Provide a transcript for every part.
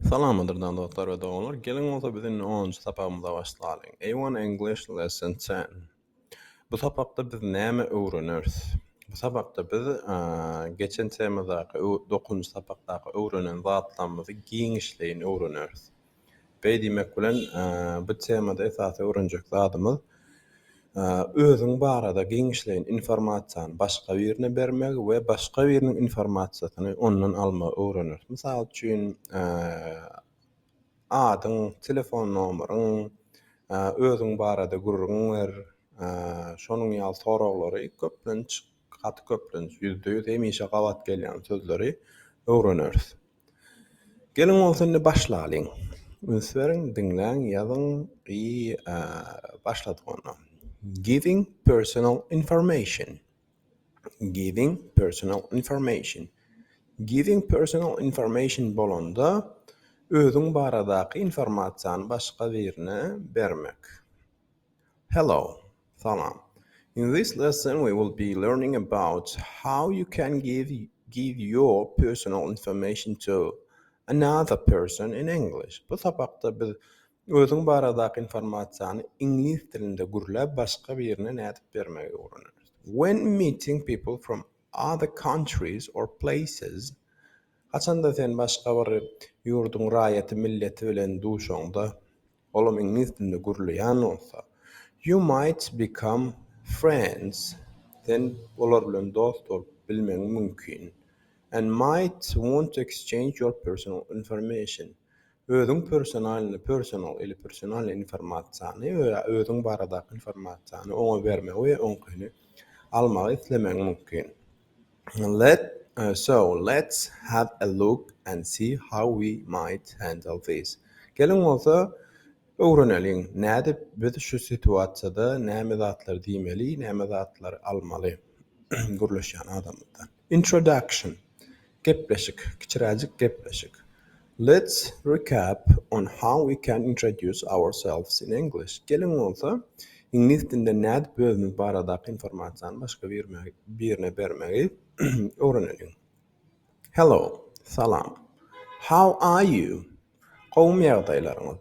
Salamdyrdan dostlar we doganlar geliň bolsa biz indi onunjy sapagymyza başlalyň A one English lesson ten Bu sapakda biz näme öwreneris Bu sapakda biz geçen temadaky dokuzynjy sapakdaky öwrenen zatlarymyzy giňişleýin öwreneris Beý diýmek bilen bu temada esasy öwrenjek zadymyz Özüň barada giňişleýin informasiýany başga birine bermegi we başga biriniň informasiýasyny ondan almagy öwreneris. Mysal üçin, adyň, telefon nomeryň, özüň barada gürrüň ber, şonuň ýaly soraglary köplenç, gaty köplenç, ýüzde ýüz hemişe gabat gelýän sözleri öwreneris. Geliň bolsa indi başlalyň. Üns beriň, diňläň, ýazyň i başladyk onda. Giving personal information. Giving personal information. Giving personal information bolanda özüň baradaky informasiýany başga birine bermek. Hello. Salam. In this lesson we will be learning about how you can give give your personal information to another person in English. Bu sapakda biz özüň baradaky informasiýany iňlis dilinde gürläp başga birine nädip bermegi öwreneris. When meeting people from other countries or places Haçanda sen başga bir ýurduň raýaty, milleti bilen duşaňda. olam iňlis dilinde gürleýän bolsa, You might become friends, sen olar bilen dost bolup bilmegiň mümkin, and might want to exchange your personal information, özüň personalny, personal, ili personalny informasiýany, özüň baradaky informasiýany oňa bermegi we oňkyny almagy islemegiň mümkin. Let so let's have a look and see how we might handle this. Geliň bolsa öwreneliň nädip biz şu situasiýada näme zatlar diýmeli näme zatlar almaly gürleşýän adamymyzdan. Introduction gepleşik kiçiräjik gepleşik. Let's recap on how we can introduce ourselves in English, Geliň bolsa, iňlis dilinde nädip özümiz baradaky informasiýany başga birine bermegi öwreneliň. Hello, Salam. How are you? Gowumy ýagdaýlaryňyz?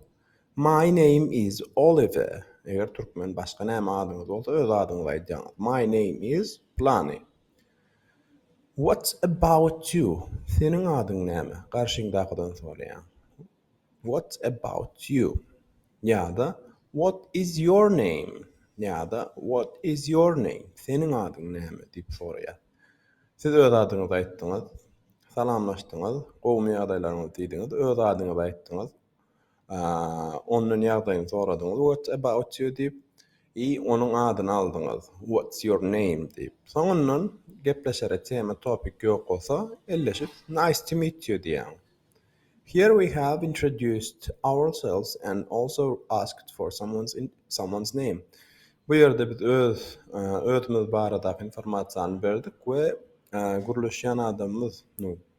My name is Oliver, Eger türkmen başga näme adyňyz bolsa öz adyňyzy aýdýaňyz. My name is, Plany. What's about you? Seniň adyň näme? garşyňdakydan soraýaň. What's about you? ýa-da What is your name? ýa-da What is your name? Seniň adyň näme? diýip soraýar. Siz öz adyňyzy aýtdyňyz, salamlaşdyňyz, gowumy ýagdaýlaryňyz diýdiňiz, öz adyňyzy aýtdyňyz. Ondan ýagdaýyny soradyňyz, What about you? diýip, i onuň adyny aldyňyz, What's your name? diýip. Soňundan gepleşere tema, topik ýok bolsa, elleşip, Nice to meet you diýýäň. Here we have introduced ourselves and also asked for someone's name. Bu ýerde biz öz özümiz baradaky informasiýany berdik we gürleşýän adamymyz,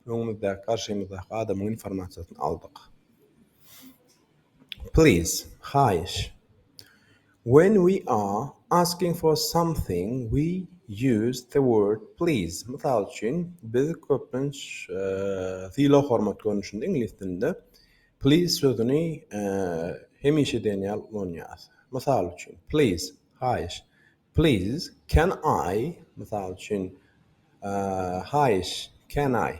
Öňümizdäki, garşymyzdaky adamyň informasiýasyny aldyk. Please, haýyş. When we are asking for something we use the word please. Mysal üçin, biz köplenç sylag-hormat görnüşinde iňlis dilinde please sözüni hemişe diýen ýaly ulanýarys. Mysal üçin, please, haýyş. Please, can I, mysal üçin, haýyş, can I,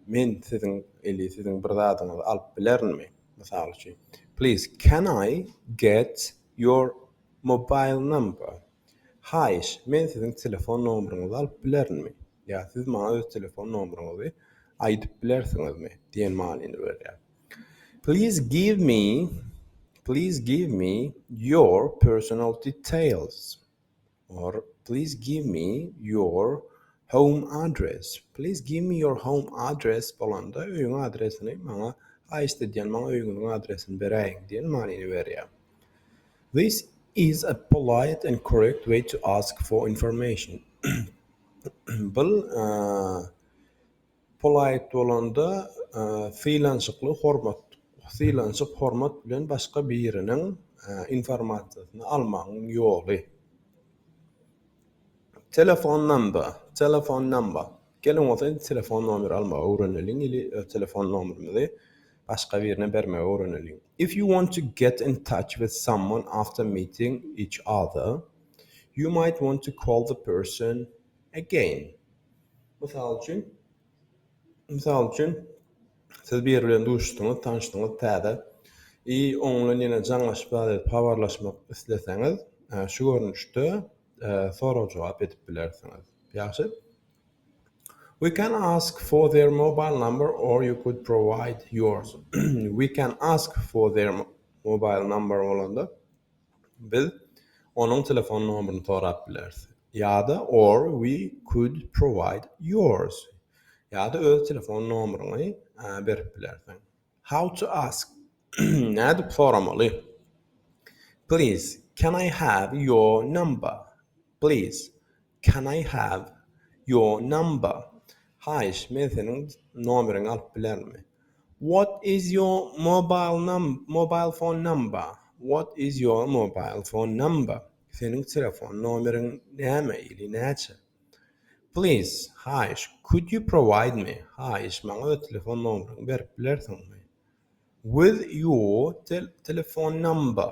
men siziň, eli siziň bir zadyňyzy alyp bilerinmi? Mysal üçin, Please, can I get your mobile number? Haýyş, men siziň telefon nomeriňizi alyp bilerinmi? ýa Siz maňa öz telefon nomeriňizi aýdyp bilersiňizmi? diýen manyny berýär. Please give me Please give me your personal details or Please give me your home address. Please give me your home address bolanda öýüň adresini maňa haýyşt edýän maňa öýüňiziň adresini beräýiň diýen manyny berýär. This is a polite and correct way to ask for information. Bul Polite bolanda, sylançykly, hormat, sylançyk, hormat bilen başga biriniň informasiýasyny almagyň ýoly. Telefon namba, telephone number, geliň bolsa indi telefon nomeri almagy öwreneliň ili öz telefon nomerimizi başga birine bermegi öwreneliň. If you want to get in touch with someone after meeting each other, you might want to call the person again. Mysal üçin, mysal üçin, siz biri bilen duşuşdyňyz, tanyşdyňyz, täze i oň bilen ýene jaňlaşyp zat edip habarlaşmak isleseňiz, şu görnüşde sorag-jogap edip bilersiňiz. Ýagşy. We can ask for their mobile number or you could provide yours. We can ask for their mobile number bolanda Biz onuň telefon nomerini sorap bileris. Ýa-da or we could provide yours. Ýa-da öz telefon nomeryňy berip bilersiň. How to ask. Nädip soramaly? Please can I have your number? Please Can I have your number? Haýyş, men seniň nomeriňi alyp bilermi? What is your mobile num mobile phone number? What is your mobile phone number? Seniň telefon nomeriň näme ili näçe? Please, haýyş, could you provide me? Haýyş, maňa öz telefon nomeriňi berip bilersiňmi? With your tel telefon number?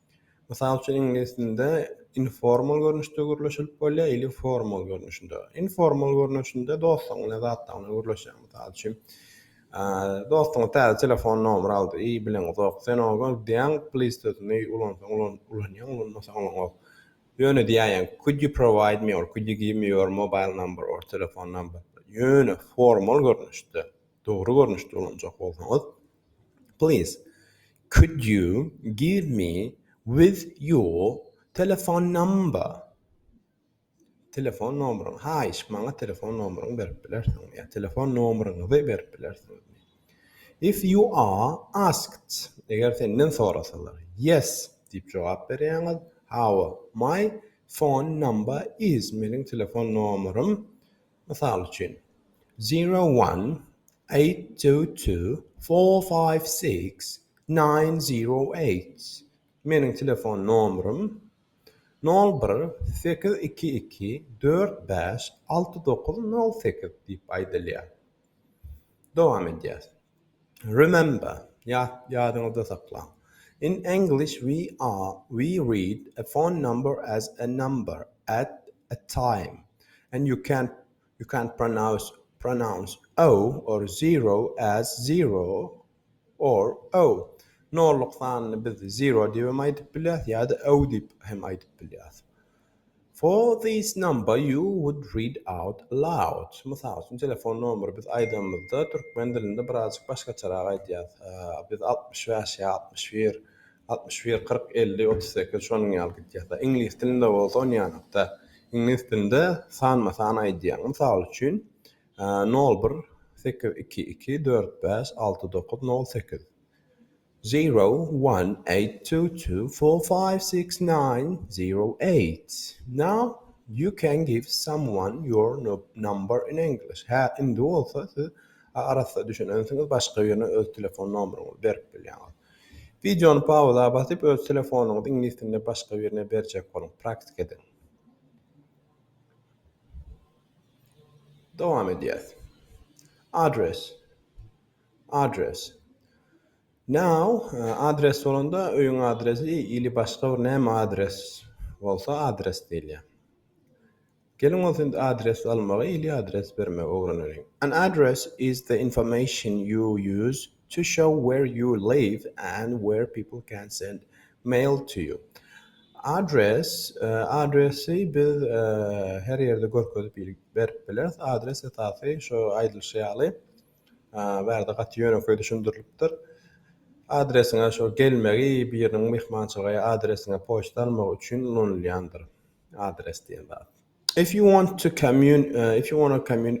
Mysal üçin, iňlis dilinde informal görnüşde gürleşilip bolýar ili formal görnüşinde. Informal görnüşinde dostuň bilen zatlaryň bilen gürleşýär. Mysal üçin, dostuň täze telefon nomer aldy, i bilen uzak. Sen oňa gör diýýäň, please sözüni ulansaň ulan, ulanýaň, ulanmasaň ulanok. Ýöne diýäýýäň, could you provide me or could you give me your mobile number or telephone number. Ýöne formal görnüşde, dogry görnüşde ulanjak bolsaňyz, Please could you give me with your telefon number telefon nomeryňy haýyş maňa telefon nomeryňy berip bilersiňmi ýa telefon nomeryňyzy berip bilersiňmi if you are asked eger senden sorasalar yes diýip jogap berýäňiz hawa my phone number is meniň telefon nomerym Mysal üçin, Zero one, eight two two, four five six, nine zero eight, Meniň telefon nomerym, nol bir, sekiz iki iki, dört bäş, alty dokuz, nol sekiz, diýip aýdylýar. Dowam edýäs. Remember, ýat, ýadyňyzda saklaň, In English we are, we read a phone number as a number, at, a time, and you can, you can pronounce, pronounce o or zero as zero or o. Nolluk sanyny biz zero diýibem aýdyp bilýäs ýa-da o diýip hem aýdyp bilýäs. For this number you would read out loud. Mysal üçin, telefon nomeri biz aýdanymyzda türkmen dilinde birazjyk başgaçarak aýdýarys. Biz altmyş bäş ýa altmyş bir, altmyş bir, kyrk, elli, otuz sekiz şonuň ýaly gidýär. Iňlis dilinde bolsa ony ýanakda, iňlis dilinde sanma-san aýdýar. Mysal üçin, nol bir, sekiz iki iki, dört bäş, alty dokuz, nol sekiz. Zero, one, eight, two, two, four, five, six, nine, zero, eight. Now, you can give someone your number in English. Hä, indi bolsa siz arassa düşünensiňiz, başga birine öz telefon nomeryňyzy berip bilýäňiz. Wideony pauza basyp, öz telefonyňyzy iňlis dilinde başga birine berjek boluň. Praktika ediň. Dowam edýäs. Address. Adres. Now, adres bolanda öýüň adresi ili başga bir näme adres bolsa adres diýilýär. Geliň bolsa indi adres almagy ili adres bermegi öwreneliň. An address is the information you use to show where you live and where people can send mail to you. Adres, adresi biz her ýerde görkezip ili berip bileris. Adres esasy şo aýdylyşy ýaly. Bärde gaty ýönekeý düşündirilipdir. Adresiňe şo gelmegi biriniň myhmançylyga ýa adresiňe poçta almagy üçin ulanylýandyr. Adres diýen zat. If you want to commun if you wanna commun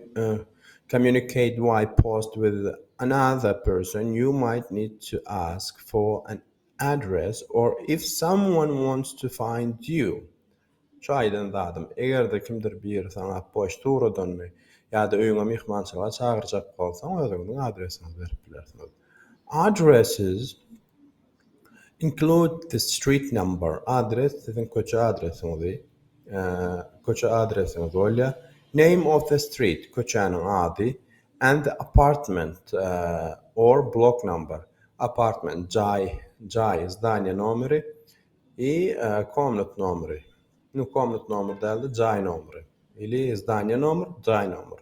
communicate by post with another person you might need to ask for an address or if someone wants to find you Şu aýdan zadym, eger-de kimdir biri saňa poçta ugradanmy ýa-da öýüňe myhmançylyga çagyrjak bolsaň, özüňiziň adresiňizi berip bilersiňiz. Addresses include the street number, adres siziň köçe adresiňizi, köçe adresiňiz bolýar, name of the street, köçäniň ady, and the apartment or block number, apartment, jaý, jaý, zdaniýa nomeri, I komnat nomeri. Nu komnat nomeri dälde jaý nomeri. Ili zdaniýa nomer, jaý nomer.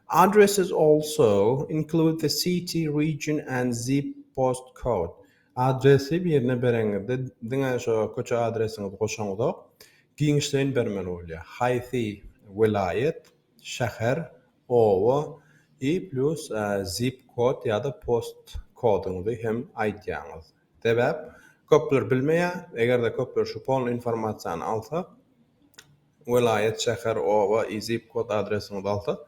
Addresses also include the city, region and zip post code. Adresi birine bereňizde diňe şo köçe adresiňizi goşaňyzok, giňişleýin bermeli bolýar. Haýsy welaýat, şäher, oba i plus zip kod ýa-da post kodyňyzy hem aýdýaňyz. Sebäp, köpler bilmeýär, eger-de köpler şu polny informasiýany alsa, welaýat, şäher, oba i zip kod adresiňizi alsa,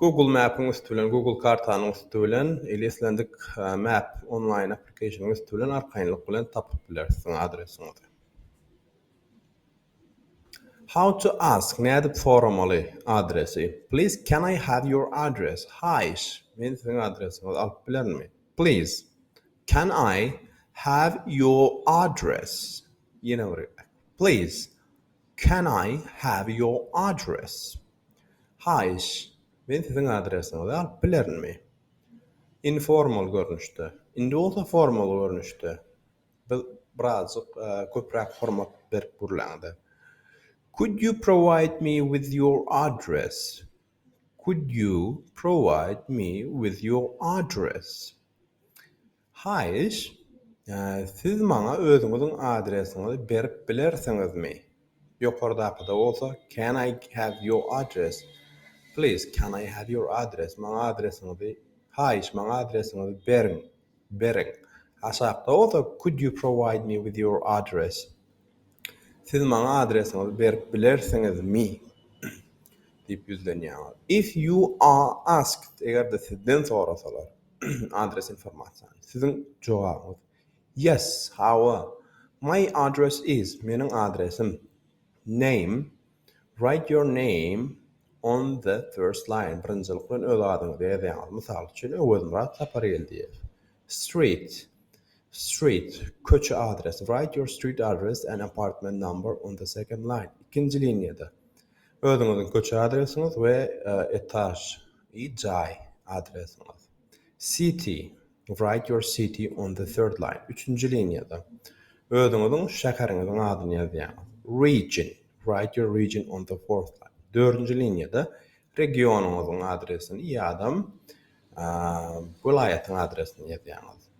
Google Map-iň üsti bilen, Google kartanyň üsti bilen, ili islendik map onlaýn aplikasionyň üsti bilen arkaýynlyk bilen tapyp biler siziň adresiňizi. How to ask, nädip soramaly adresi. Please can I have your address, haýyş, men siziň adresiňizi alyp bilermi? Please can I have your address Ýene bir gezek Please can I have your address Haýyş men siziň adresiňizi alyp bilerinmi? Informal görnüşde Indi bolsa formal görnüşde bir birazjyk köpräk hormat berip gürläňde Could you provide me with your address Could you provide me with your address? Haýyş, siz maňa özüňiziň adresiňizi berip bilersiňizmi? Ýokardakyda bolsa Can I have your address? Please, can I have your address? Maňa adresiňizi, haýyş, maňa adresiňizi beriň. beriň. Aşakda bolsa Could you provide me with your address? Siz maňa adresiňizi berip bilersiňizmi? diýip ýüzlenýäňiz. If you are asked, eger-de sizden sorasalar, adres informasiýany, siziň jogabyňyz, Yes, hawa, my address is, meniň adresim, Name, Write your name on the first line, birinjilik bilen öz adyňyzy ýazýaňyz, mysal üçin, Öwezmyrat Sapargeldiýew. Street, Street, köçe adresi, Write your street address and apartment number on the second line, ikinji liniýada, özüňiziň köçe adresiňiz we etaž, jaý, adresiňiz. City, Write your city on the third line, üçünji liniýada, özüňiziň şäheriňiziň adyny ýazýaňyz. Region, Write your region on the fourth line, dördünji liniýada, regionyňyzyň adresini ýa-dam welaýatyň adresini ýazýaňyz,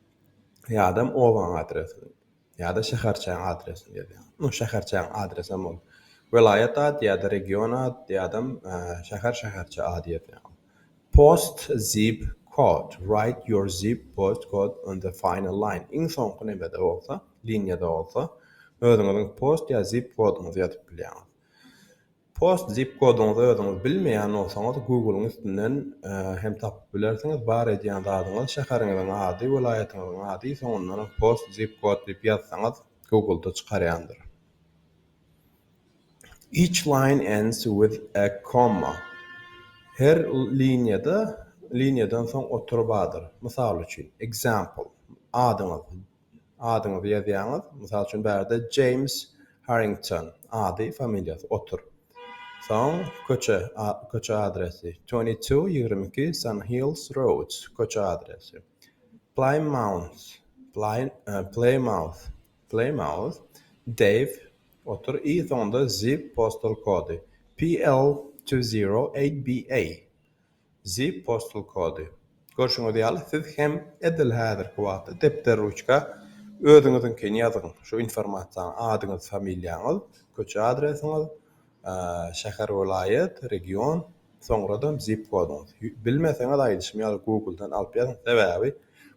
ýa-dam obaň adresini. ýa-da şäherçäň adresini ýazýaň. Nu, şäherçäň adresem ol welaýat ady ýa-da region ady ýa-da şäher, şäherçe ady ýazýaň. Post zip kod, write your zip post code on the final line, iň soňky nämede bolsa, liniýada bolsa, özüňiziň post ýa zip koduňyzy ýazyp bilýäňiz. Post zip kodyňyzy özüňiz bilmeýän bolsaňyz Google-yň üstünden hem tapyp bilersiňiz. Bar edýän zadyňyz şäheriňiziň ady, welaýatyňyzyň ady, soňundanam post zip kod diýip ýazsaňyz Google-da çykarýandyr. Each line ends with a comma. Her liniýada liniýadan soň otury bardyr. Mysal üçin, example, adyňyz. adyňyzy ýazýaňyz. Mysal üçin, bärde James Harrington ady, familiýasy otur. Soň köçe köçe adresi twenty two ýigrimi iki Sun Hills Road köçe adresi. Plymouth Plymouth Plymouth Dave otur i soňunda zip postal kody PL two zero eight BA. Zi Postal Kody. Görşüňiz ýaly, siz hem edil häzirki wagtda depder-ruçka özüňiziňkini ýazyň. Şu informasiýany adyňyz, familiýaňyz, köçe adresiňiz, şäher, welaýat, region, soňradam zip kodyňyz. Bilmeseňiz aýdyşym ýaly Google-dan alyp ýazyň, sebäbi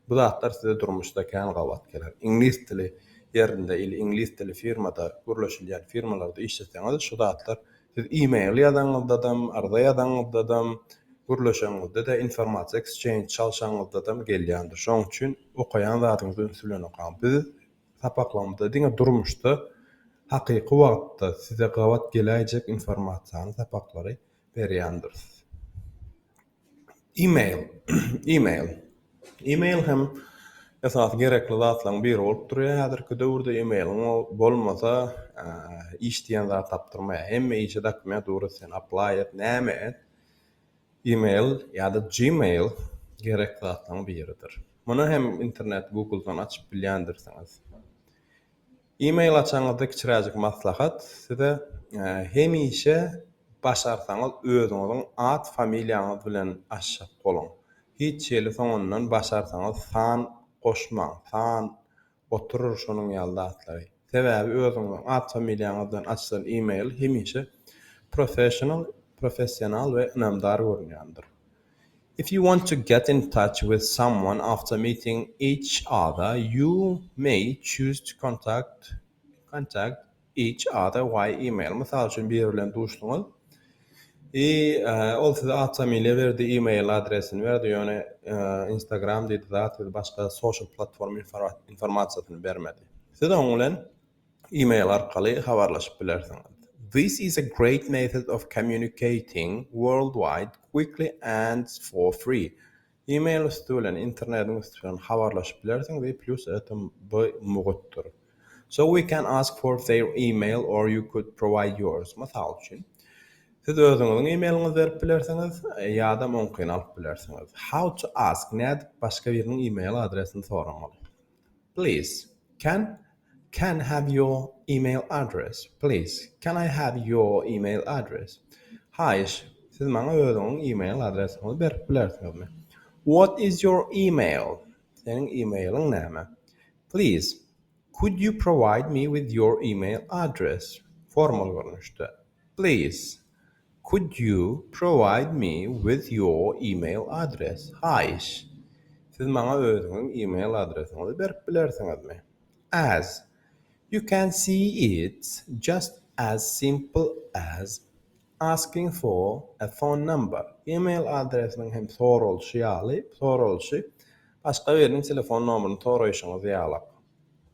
bu zatlar size durmuşda kän gabat geler. Iňlis dili ýerinde il iňlis dili firmada gürleşilýän firmalarda işleseňiz şu zatlar Siz e-mail ýazaňyzdadam, arza ýazaňyzdadam, gürleşeňizdede, informasiýa exchange çalşaňyzdadam gelýändir. Şonuň üçin okaýan zadyňyzy üns bilen okaň. Biz sapaklarymyzda diňe durmuşda hakyky wagtda size gabat geläýjek informasiýany, sapaklary berýändiris. E-mail, e-mail. E-mail hem esasy gerekli zatlaryň biri bolup durýar häzirki döwürde. E-mailiň bolmasa, iş diýen zat tapdyrmaýar. Hemme işe dokument ugrus, sen apply et, näme et, e-mail ýa-da Gmail gerekli zatlaryň biridir. Muny hem internet, Google-dan açyp bilýändirsiňiz. E-mail açanyňyzda kiçiräjik maslahat, size hemişe başarsaňyz özüňiziň at familiýaňyz bilen açjak boluň. Hiç hili soňundan başarsaňyz san goşmaň, san, oturyr şonuň ýaly zatlary. Sebäbi özüňiziň at familiýaňyz bilen açylan e-mail hemişe professional, professional we ynamdar görünýändir. If you want to get in touch with someone after meeting each other, you may choose to contact contact each other via email. Mysal üçin, biri bilen duşduňyz, i ol size atfamiliýa berdi, email adresini berdi, ýöne Instagram diýdi zat, siz başga social platforma informasiýasyny bermedi. Siz oň bilen e-mail arkaly habarlaşyp bilersiňiz. This is a great method of communicating worldwide quickly and for free. E-mail üsti bilen, internetiň üsti bilen habarlaşyp bilersiň we plus etem by mugtdyr. So we can ask for their e-mail or you could provide yours. Mysal üçin, siz özüňiziň e-mailiňizi berip bilersiňiz ýa-da oňkyny alyp bilersiňiz. How to ask, nädip başga biriniň e-mail adresini soramaly. Please can can have your email address please can I have your email address haýyş siz maňa özüňiň email adresiňizi berip bilersiňizmi What is your email seniň emailiň näme Please could you provide me with your email address formal görnüşde Please could you provide me with your email address haýyş siz maňa özüňiň email adresiňizi berip bilersiňizmi as you can see it's just as simple as asking for a phone number email adresiniň hem soralyşy ýaly soralyşy başga biriniň telefon nomerini soraýşyňyz ýalak.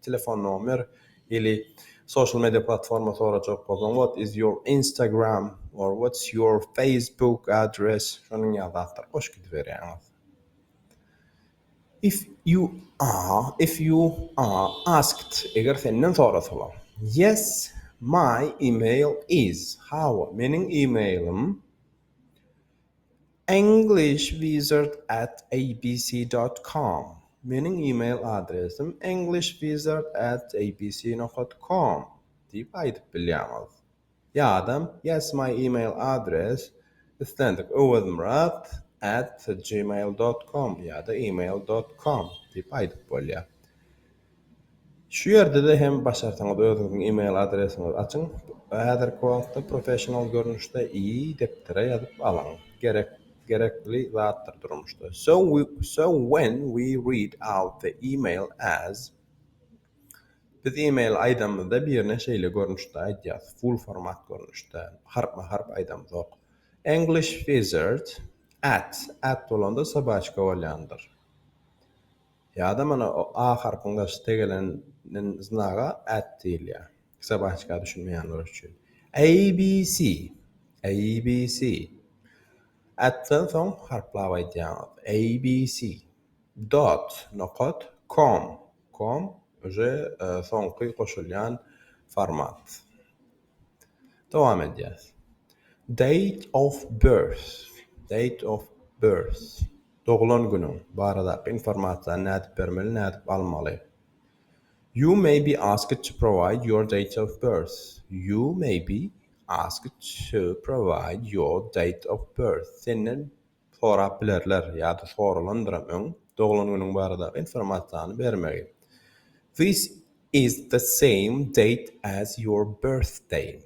telefon nomer ili social media platforma sorajak bolsaň what is your instagram or what's your facebook address şonuň ýaly zatlar goşup gidiberýäňiz if you are if you are asked eger senden sorasalar yes my email is hawa meniň emailim Englishwizardabc.com Meniň e-mail adresim englishwizardabc.com diýip aýdyp bilýäňiz. Ýa-da Yes my e-mail address islendik Öwezmyrat at gmail dot com ýa-da email dot com diýip aýdyp bolýar. Şu ýerde-de hem başarsaňyz özüňiziň email adresiňizi açyň. Häzirki wagtda professional görnüşde i depdere ýazyp alyň. Gerek gerekli zatdyr durmuşda. So we so when we read out the email as Biz email aýdamyzda birine şeýle görnüşde aýdýas, full format görnüşde, harpma harp aýdamzok. English wizard at at bolanda sobaçka bolýandyr. Ýa-da mana o A harpyň daşy tegelenin znaga at diýilýär. Sabaçka düşünmeýänler üçin. ABC. ABC. Atdan soň harplap aýdýaňyz. ABC. Dot, nokat, com. Com, uje soňky goşulýan format. Dowam edýäs. Date of birth. Date of birth. Doglan günüň baradaky informasiýany nädip bermeli, nädip almaly? You may be asked to provide your date of birth. You may be asked to provide your date of birth. Senden sorap bilerler ýa-da soralandyram öň doglan günüň baradaky informasiýany bermegi. This is the same date as your birthday.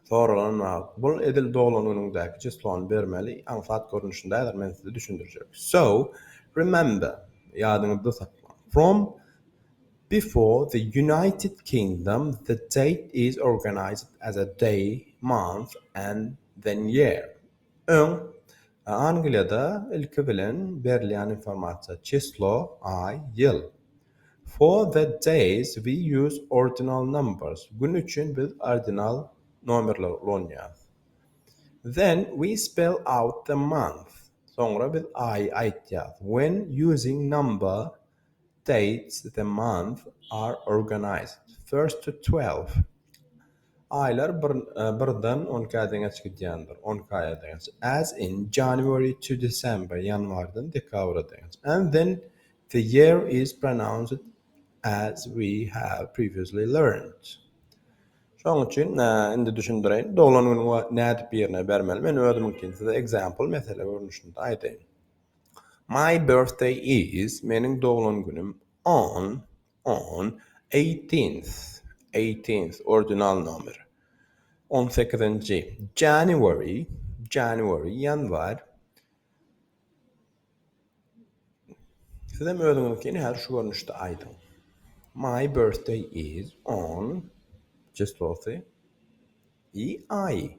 Soraglanan wagt, Bul edil doglan günüňdäki çyslony bermeli, aňsat görnüşindädir, men size düşündirjek. So, remember, ýadyňyzda saklaň, from before the United Kingdom the date is organized as a day, month and then year. Öň, Angliýada ilki bilen berilýän informasiýa çyslo, aý, ýyl. For the days we use ordinal numbers, gün üçin biz ordinal nomerleri ulanýarys. Then we spell out the month, soňra biz aýy aýtýarys. When using number, Dates, the month, are organized, first to twelve, Aýlar birden on ikä deňeç gidýändir, on iki aýa deňeç, as in January to December, ýanwardan dekabra deňeç, and then the year is pronounced as we have previously learned. Şonuň üçin, indi düşündireýin, doglan günüňi nädip ýerine bermeli? Men özümiňkini size example, mesele görnüşinde aýdaýyn. My birthday is, meniň doglan günüm, on, on, eighteenth, eighteenth, ordinal nomer, on sekizinji, January, January, ýanwar, sizem özüňiziňkini häzir şu görnüşde aýdyň. My birthday is on, çyslosy, i, aýy,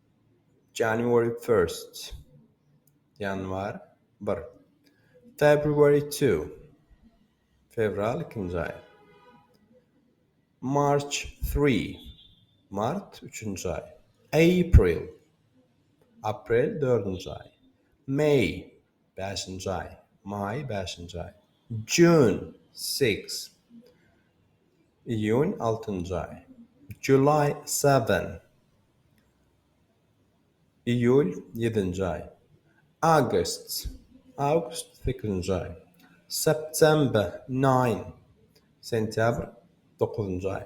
January first, ýanwar bir. February two, fewral ikinji aý. March three, mart üçünji aý. April, aprel dördünji aý. May, bäşinji aý. Maý bäşinji aý. June six, iýun altynjy aý. July seven, Iýul, ýedinji aý. August, awgust, sekizinji aý. September, nine. Sentýabr, dokuzynjy aý.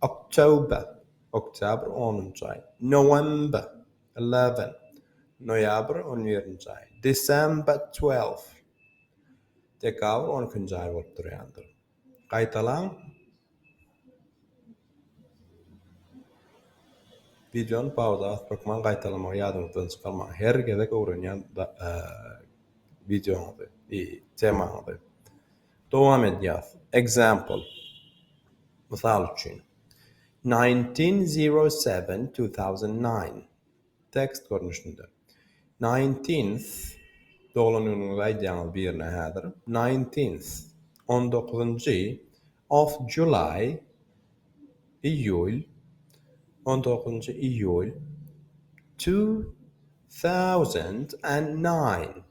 October, oktýabr, onunjy aý. November, eleven. Noýabr, on birinji aý. December, twelve. Dekabr, on ikinji aý bolup durýandyr. Gaýtalaň Wideony pauza basyp hökman gaýtalamagy ýadyňyzdan çykarmaň. Her gezek öwrenýän wideoňyzy, temaňyzy. Dowam edýäs. Example. Mysal üçin. 1907-2009. Tekst görnüşinde. Nineteenth, Doglan günüňizi aýdýaňyz birine häzir. Nineteenth, On dokuzynjy, of July, Iýul, on dokuzynjy iýul, two thousand and nine.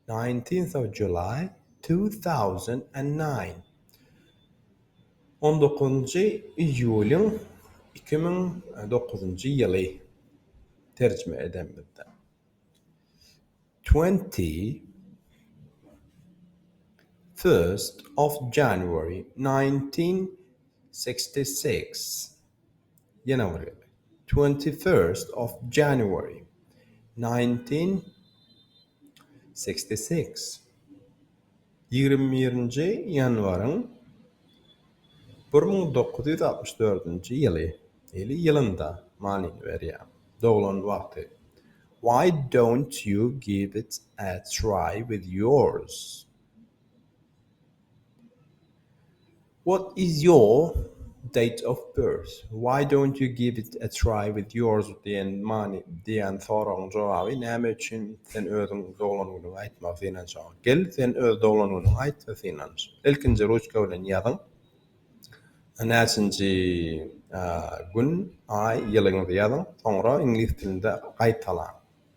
Nineteenth of July, two thousand and nine On dokuzynjy iýulyň iki müň dokuzynjy ýyly terjime edemizde Twenty first of January, nineteen sixty six Ýanawary, twenty-first of January, nineteen sixty-six, Ýigrimi birinji ýanwaryň bir müň dokuz ýüz altmyş dördünji ýyly, ýyly ýylynda manyny berýär, doglan wagty. Why don't you give it a try with yours? What is your date of birth? Why don't you give it a try with yours diýen many diýen soragyň jogaby näme üçin sen özüň doglan günüňi aýtmagy synanjagyň. Gel sen öz doglan günüňi aýt we synanj. Ilkinji ruçka bilen ýazyň näçinji gün, aý, ýylyňyzy ýazyň soňra iňlis dilinde gaýtalaň.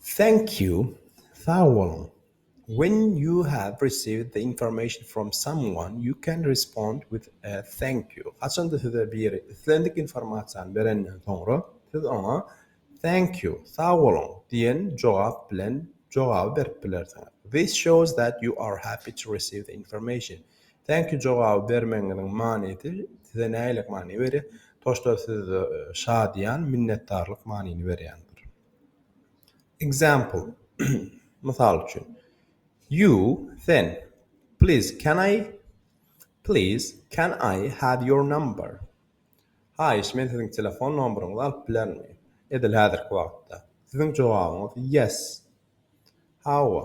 Thank you, sag boluň, When you have received the information from someone, you can respond with a thank you. Haçanda size biri islendik informasiýany berenden soňra, siz oňa Thank you, sag boluň, diýen jogap bilen jogaby berip bilersiňiz. This shows that you are happy to receive the information. Thank you jogaby bermegiňiziň manysy size nähili many berýär? Toşda siz şadyýan, minnetdarlyk manyny berýändir. Example, Mysal üçin, You, sen, Please can I Please can I have your number? Haýyş, men siziň telefon nomeryňyzy alyp bilermi? Edil häzirki wagtda. Siziň jogabyňyz Yes. Hawa.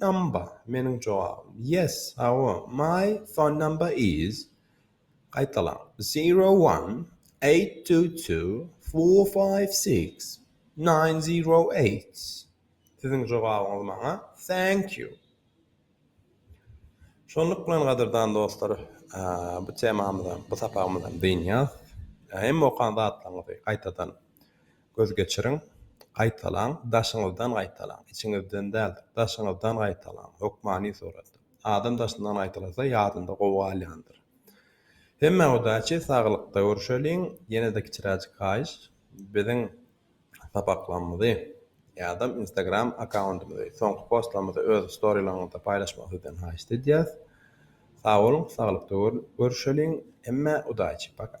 Number, meniň jogabym. Yes, hawa, my phone number is, gaýtalaň, zero one, eight two two, four five six, nine zero eight. Siziň jogabyňyz maňa, thank you. Şonluk bilen, gadyrdan dostlar, bu temamyzam, bu sapagymyzam dynýas. Hemme okan zatlaryňyzy gaýtadan. Göz geçiriň, gaýtalaň, daşyňyzdan gaýtalaň, içiňizden däldir, daşyňyzdan gaýtalaň, hökmany suratda. Adam daşyndan gaýtalasa, ýadynda gowy galýandyr. Hemmä udaçi, saglykda görüşeliň, ýene-de kiçiräjik haýyş, biziň sapaklarymyzy ýa-da Instagram akkauntymyzy, soňky postlarymyzy öz storylaryňyzda paýlaşmagy sizden haýyşt edýäs. Sag boluň, saglykda görüşeliň, hemmä udaçi, paka!